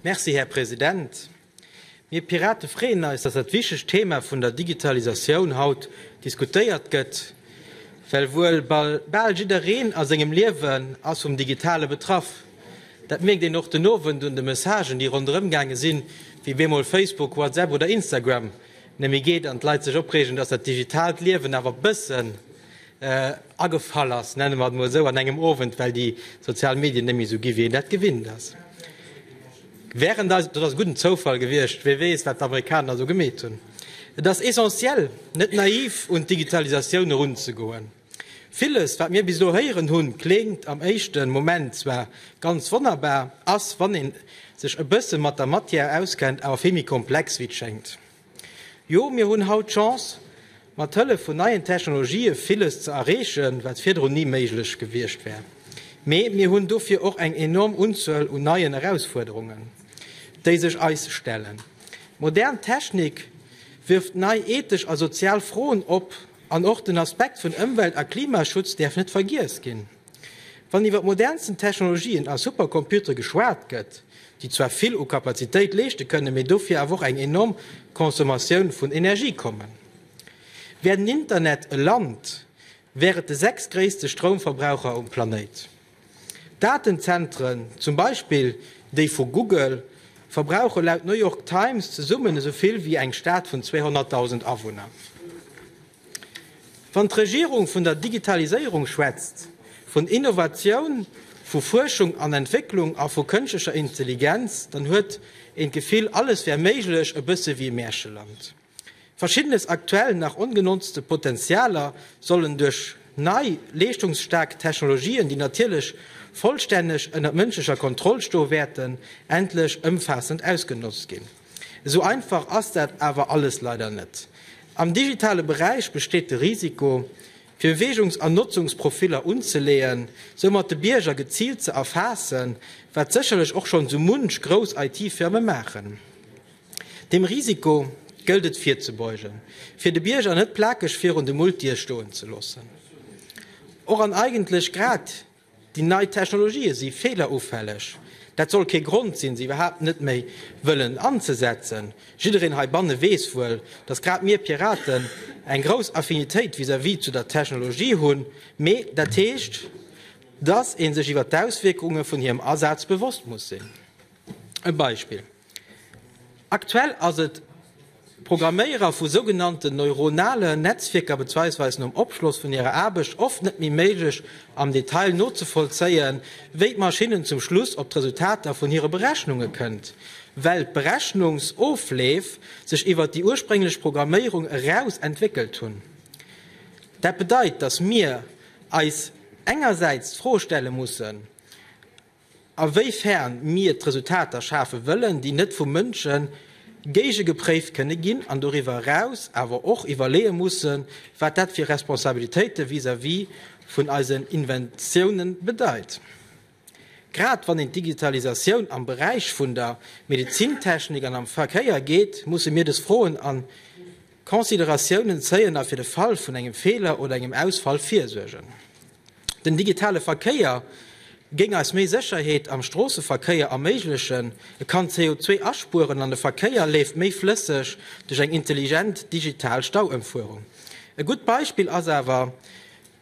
Merci, Här President. Mir Pirate freeën eis, dass dat wichtegt Thema vun der Digitalisatioun haut diskutéiert gëtt, well wuel bal jiddereen a sengem Liewen ass vum Digitale betraff. Dat mierkt een och den Owend un de Messagen, déi ronderëm gaange sinn, wéi bemol Facebook, WhatsApp oder Instagram net méi geet an d'Leit sech opreegen, dass dat digitaalt Liewen awer e bëssen agefall ass, nenne mer et emol esou, an engem Owend, well déi sozial Medien net méi esou gi wéi een dat gewinnt ass. Während eis, dat ass e gudden Zoufall gewiescht, wie weess wat d'Amerikaner esou gemeet hunn. Et ass essentiel net naiv un d'Digitalisatioun erunzegoen. Villes wat mir bis elo héieren hunn, kléngt am éischte Moment zwar ganz wonnerbar, ass wann ee sech e bësse mat der Matière auskennt awer vill méi komplex wéi et schéngt. Jo, mir hunn haut d'Chance, mat Hëllef vun neien Technologië villes ze erreechen, wat virdrun ni méiglech gewiescht wär. Mee mir hunn dofir och eng enorm Unzuel un neien Erausfuerderungen, déi sech eis stellen. Modern Technik wierft nei ethesch a sozial Froen op, an och den Aspekt vun Ëmwelt a Klimaschutz däerf net vergiess ginn. Wann iwwer d'modernsten Technologien a Supercomputere geschwat gëtt, déi zwar vill u Kapazitéit leeschte kënnen, mee dofir awer och eng enorm Consommatioun vun Energie kommen. Wär den Internet e Land, wär et de sechstgréisste Stroumverbraucher um Planéit. Datenzentren, zum Beispill déi vu Google, verbrauche laut New York Times zesummen esou vill wéi eng Stad vun 200.000 Awunner. Wann d'Regierung vun der Digitaliséierung schwätzt, vun Innovatioun, vu Fuerschung an Entwécklung a vu kënschlecher Intelligenz, dann huet een d'Gefill, alles wär méiglech, e bësse wéi e Märcheland. Verschiddenes aktuell nach ongenotzte Potenzialer sollen duerch nei, leeschtungsstaark Technologien, déi natierlech vollstänneg ënnert mënschlecher Kontroll stoe wäerten, endlech ëmfaassend ausgenotzt ginn. Esou einfach ass dat awer alles leider net. Am digitale Beräich besteet de Risiko, fir Beweegungs an Notzungsprofiller unzeleeën, soumat de Bierger geziilt ze erfaassen, wat sécherlech och schonn sou munch grouss IT-Firme maachen. Deem Risiko gëllt et virzebeugen, fir de Bierger net plakeg virun de Multie stoen ze loossen. Och an eigentlech grad Déi nei Technologië si feelerufälleg. Dat soll kee Grond sinn, se iwwerhaapt net méi wëllen anzesetzen. Jiddereen heibanne weess wuel, datt grad mir Piraten eng grouss Affinitéit vis-à-vis zu der Technologie hunn. Mee dat heescht, datt ee sech iwwer d'Auswierkunge vun hirem Asaz bewosst muss sinn. E Beispill, Aktuell ass et Programméierer vu sougenannten neuronale Netzwierker bezweisweis nom Opschloss vun hirer Aarbecht oft net méi méiglech am Detail nozevollzéien, wéi d'Maschinnen zum Schluss op d'Resultater vun hire Berechnunge kënnt, well d'Berechnungsofleef sech iwwert déi ursprénglech Programméierung eraus entwéckelt hunn. Dat bedeit, datt mir eis engersäits d'Fro stelle mussen, A wéi fern mir d'Resultater schafe wëllen, déi net vu Mënsche géigegepréift kënne ginn an doriwwer eraus awer och iwwerleeë mussen, wat dat fir Responsabilitéite vis-à-vis vun eisen Inventiounen bedeit. Grad wann een d'Digitalisatioun am Beräich vun der Medezintechnik an am Verkéier geet, musse mir des Froen an. Consideratiounen zéien a fir de Fall vun engem Feeler oder engem Ausfall virsuergen. Den digitale Verkéier géing eis méi Sécherheet am Stroosseverkéier erméiglechen, e kann CO2 aspueren an de Verkéier leeft méi flësseg duerch eng intelligent digital Stauëmfuerung. E gutt Beispill ass awer,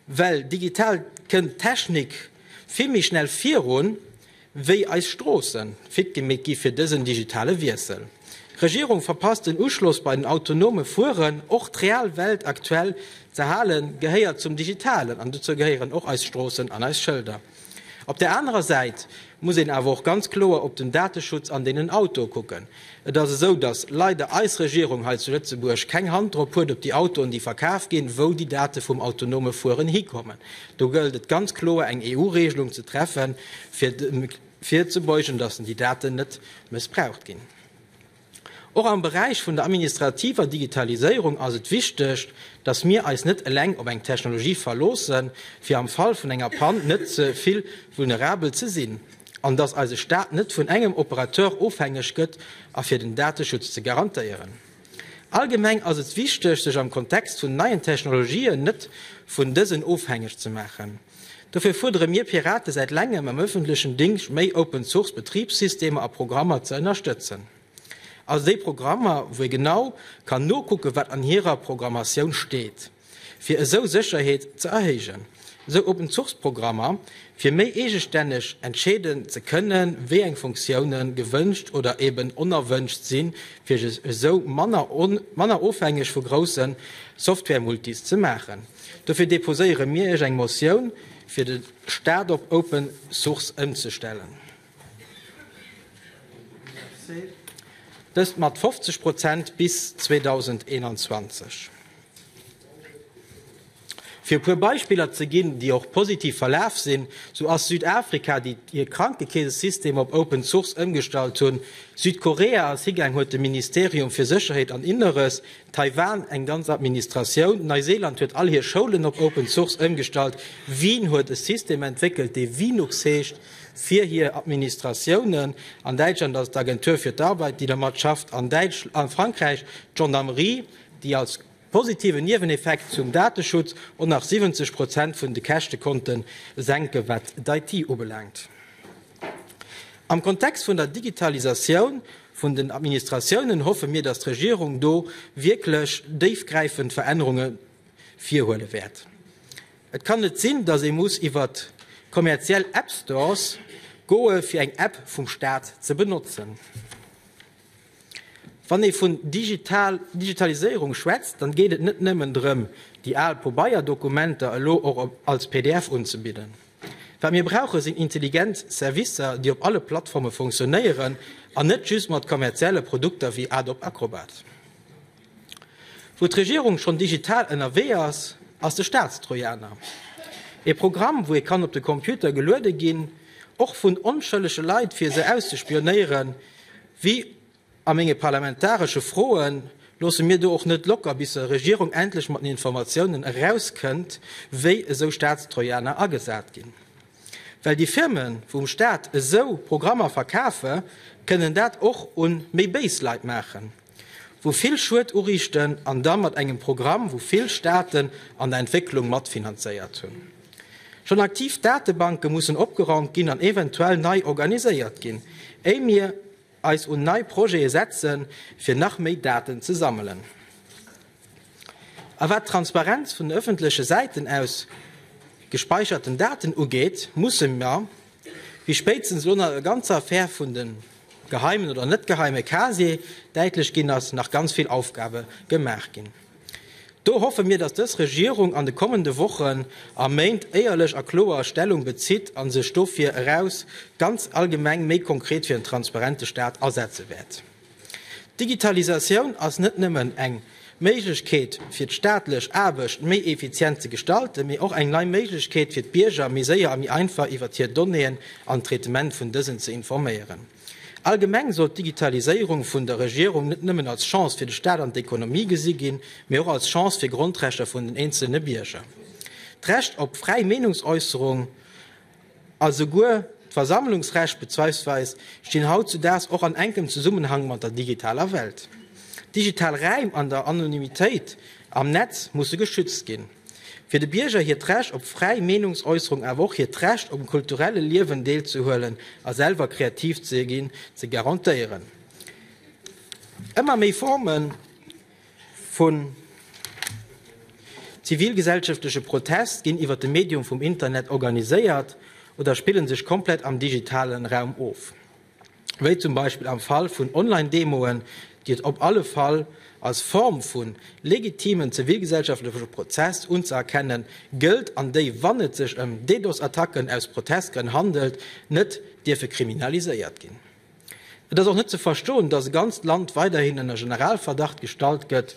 Well digital kënnt d'Technik vill méi schnell virun, wéi eis Stroossen fit gemeet gi fir dësen digitale Wiessel. D'Regierung verpasst den Uschloss bei den autonome Fueren. Och d'real Welt aktuell z'erhalen, gehéiert zum Digitalen an dozou gehéieren och eis Stroossen an eis Schëlder. Op där anerer Säit muss een awer och ganz kloer op den Dateschutz an deenen Autoe kucken. Et ass esou, datt leider eis Regierung hei zu Lëtzebuerg keng Hand drop huet, op déi Autoen, déi verkaf ginn, wou déi Date vum autonome Fueren hikommen. Do gëllt et ganz kloer eng EU-Regelung ze treffen, fir virzebeugen, datt déi Daten net mëssbraucht ginn. Och am Beräich vun der administrativer Digitaliséierung ass et wichteg, dass mir eis net eleng op eng Technologie verloossen, fir am Fall vun enger Pann net ze vill vulnerabel ze sinn, an dass eise Staat net vun engem Operateur ofhängeg gëtt, a fir den Dateschutz ze garantéieren. Allgemeng ass et wichteg, sech am Kontext vun neien Technologien net vun dësen ofhängeg ze maachen. Dofir fuerdere mir Pirate säit längem am ëffentlechen Dingscht méi Open-Source Betribssystemer a Programmer ze ënnerstëtzen. Also déi Programmer wou ee genau kann nokucken wat an hirer Programmatioun steet, fir esou Sécherheet ze erhéijen. Esou Open-Source Programmer fir méi eegestänneg entscheeden ze kënnen wéi eng Funktioune gewënscht oder eben onerwënscht sinn fir esou manner ofhängeg vu groussen Software-Multis ze maachen. Dofir deposéiere mir Iech eng Motioun, fir de Staat op Open Source ëmzestellen. Dëst mat 50 Prozent bis 2021. Fir e puer Beispiller ze ginn, déi och positiv verlaf sinn, sou ass Südafrika, déi hir Krankekeesesystem op Open Source ëmgestallt hunn, Südkorea, Sigang huet de Ministerium fir Sécherheet an Inneres Taiwan, eng ganz Administratioun. Neiseeland huet all hir Schoulen op Open Source ëmgestallt. Wien huet e System entwéckelt, dee Vinux heescht, fir hir Administratiounen. An Däitschland ass et d'Agentur für d'Arbeit, déi domat schafft. An a Frankräich d'Gendarmerie, déi als positiven Nieweneffekt zum Dateschutz och nach 70 Prozent vun de Käschte konnte senken, wat d'IT ubelaangt. Am Kontext vun der Digitalisatioun vun den Administratiounen hoffe mir, dass d'Regierung do wierklech déifgräifend Verännerunge virhuele wäert. Et kann net sinn, dass ee muss iwwer kommerziell App Stores goe fir eng App vum Staat ze benotzen. Wann ee vun Digitaliséierung schwätzt, dann geet et net nëmmen drëm, déi al Pobeierdokumenter elo och als pdf unzebidden. Wat mir brauchen, sinn intelligent Servicer, déi op alle Plattforme funktionéieren an net just mat kommerzielle Produkter wéi Adobe Acrobat. Wou d'Regierung schonn digital ënnerwee ass, ass de Staatstrojaner. Ee Programm, wou ee kann op de Computer geluede ginn, och vun onschëllege Leit, fir se auszespionéieren. Wéi a menge parlamentaresche Froe loosse mir do och net locker, bis e Regierung endlech mat den Informatiounen erauskënnt, wéi esou Staatstrojaner agesat ginn. Well déi Firmen, wou um Staat esou Programmer verkafe, kënnen dat och un méi béis Leit maachen. wou vill Schued uriichten an da mat engem Programm, wou vill Staaten an der Entwécklung matfinanzéiert hunn. Schonn aktiv Datebanke mussen opgeraumt ginn an eventuell nei organiséiert ginn, éi mir eis un nei Projete setzen, fir nach méi Daten ze sammelen. A wat d'Transparenz vun den ëffentleche Säiten aus gespäicherten Daten ugeet, musse mer, wéi spéitstens elo nach der ganzer Affär vun de geheimen oder net geheime Casiere däitlech ginn ass, nach ganz vill Aufgabe gemaach ginn. Do hoffe mir, datt dës Regierung an de kommende Wochen a Méint éierlech a kloer Stellung bezitt a sech dofir eraus ganz allgemeng méi konkret fir en transparente Staat asetze wäert. D'Digitalisatioun ass net nëmmen eng Méiglechkeet fir d'staatlech Aarbecht méi effizient ze gestalten, mee och eng nei Méiglechkeet fir d'Bierger méi séier a méi einfach iwwert hir Donnéeën an d'Traitement vun dësen ze informéieren. Allgemeng soll d'Digitaliséierung vun der Regierung net nëmmen als Chance fir de Staat an d'Ekonomie gesi ginn, mee och als Chance fir Grondrechter vun den eenzelne Bierger, d'Recht op fräi Meenungsäusserung, A souguer d'Versammlungsrecht bezweisweis stinn hautzudaags och an enkem Zesummenhang mat der digitaler Welt. Digital Räim an der Anonymitéit am Netz musse geschützt ginn. Fir de Bierger hiert Recht op fräi Meenungsäusserung awer och hiert Recht um kulturelle Liewen deelzehuelen a selwer kreativ ze ginn, ze garantéieren. Ëmmer méi Formen. Vu zivilgesellschaftleche Protest ginn iwwer de Medium vum Internet organiséiert oder spillen sech komplett am digitale Raum of, wéi zum Beispill am Fall vun Online-Demoen, déi et op alle Fall als Form vu legitimen zivilgesellschaftleche Protest unzëerkenne gëllt an déi, wann et sech ëm DDoS-Attacken aus Protestgrënn handelt, net dierfe kriminaliséiert ginn. Et ass och net ze verstoen, dass e ganzt Land weiderhin ënner Generalverdacht gestallt gëtt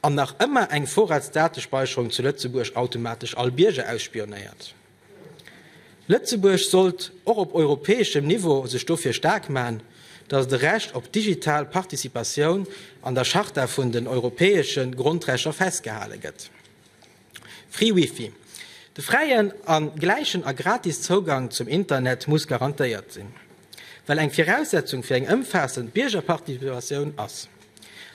an nach ëmmer eng Vorratsdatespeischerung zu Lëtzebuerg automatesch all Bierger ausspionéiert. Lëtzebuerg sollt och op europäeschem Niveau sech dofir staark man, dass de Recht op digital Participatioun an der Charta vun den europäesche Grondrechter festgehale gëtt. Free Wifi, De fräien a gläichen a gratis Zougang zum Internet muss garantéiert sinn, well eng Viraussetzung fir eng ëmfaassend Biergerparticipatioun ass.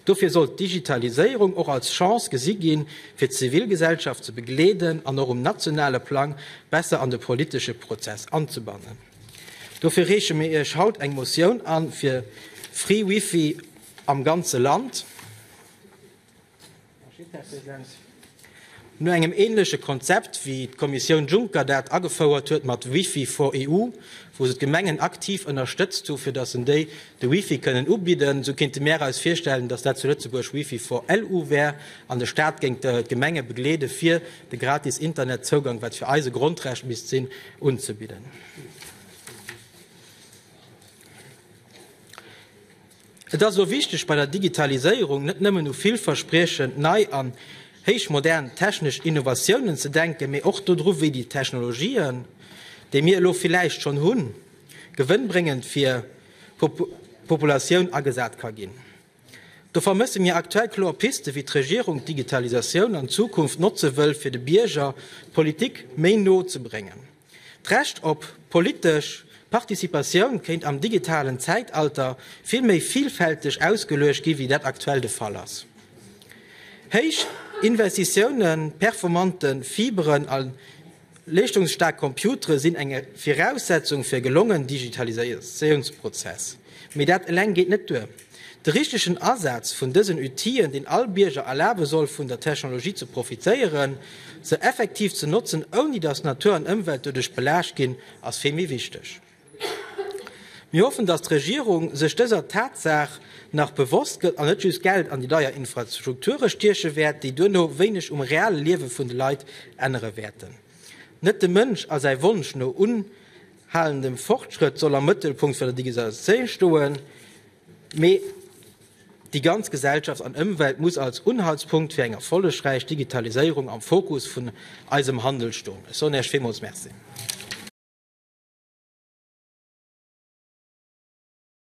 Dofir sollt d'Digitaliséierung och als Chance gesi ginn, fir d'Zivilgesellschaft ze begleeden an och um nationale Plang besser an de politesche Prozess anzebannen. Dofir reeche mir Iech haut eng Motioun an, fir Free Wifi am ganze Land. No engem ähnleche Konzept wéi d'Kommissioun Juncker dat agefouert huet mat Wifi for EU, wou se d'Gemengen aktiv ënnerstëtzt hu fir datt en déi de Wifi kënnen ubidden, esou kéinte mär eis virstellen, datt dat zu Lëtzebuerg Wifi for LU wär an de Staat géing d'Gemenge begleede fir de gratis Internetzougang, wat fir eis e Grondrecht misst sinn, unzebidden. Et ass elo wichteg bei der Digitaliséierung net nëmmen u villverspriechend nei an héichmodern technesch Innovatiounen ze denken, mee och dodru wéi déi Technologien, déi mir elo villäicht schonn hunn, gewënnbréngend fir d'Populatioun agesat ka ginn. Do vermësse mir aktuell kloer Piste wéi d'Regierung d'Digitalisatioun an Zukunft notze wëll fir de Bierger d'Politik méi no ze bréngen. D'Recht op politesch Participatioun kéint am digitalen Zäitalter vill méi villfälteg ausgeluecht gi wéi dat aktuell de Fall ass. Héich Investitiounen, performante Fiberen a leeschtungsstaark Computere sinn eng Viraussetzung fir e gelongen Digitalisatiounsprozess, mee dat eleng geet net duer. De richtegen Asaz vun dësen Outien, deen all Bierger erlabe soll vun der Technologie ze profitéieren, se effektiv ze notzen, ouni datt Natur an Ëmwelt doduerch belaascht ginn, ass vill méi wichteg. Mir hoffen, datt d'Regierung sech dëser Tatsaach nach bewosst gëtt an net just Geld an déi deier Infrastrukture stieche wäert, déi duerno wéineg um reale Liewe vun de Leit ännere wäerten. Net de Mënsch a säi Wonsch no un. Halen, de Fortschrëtt soll am Mëttelpunkt vun der Digitalisatioun stoen, mee déi ganz Gesellschaft an Ëmwelt muss als Unhaltspunkt fir eng erfollegräich Digitaliséierung am Fokus vun eisem Handel stoen. Ech soen Iech villmools Merci.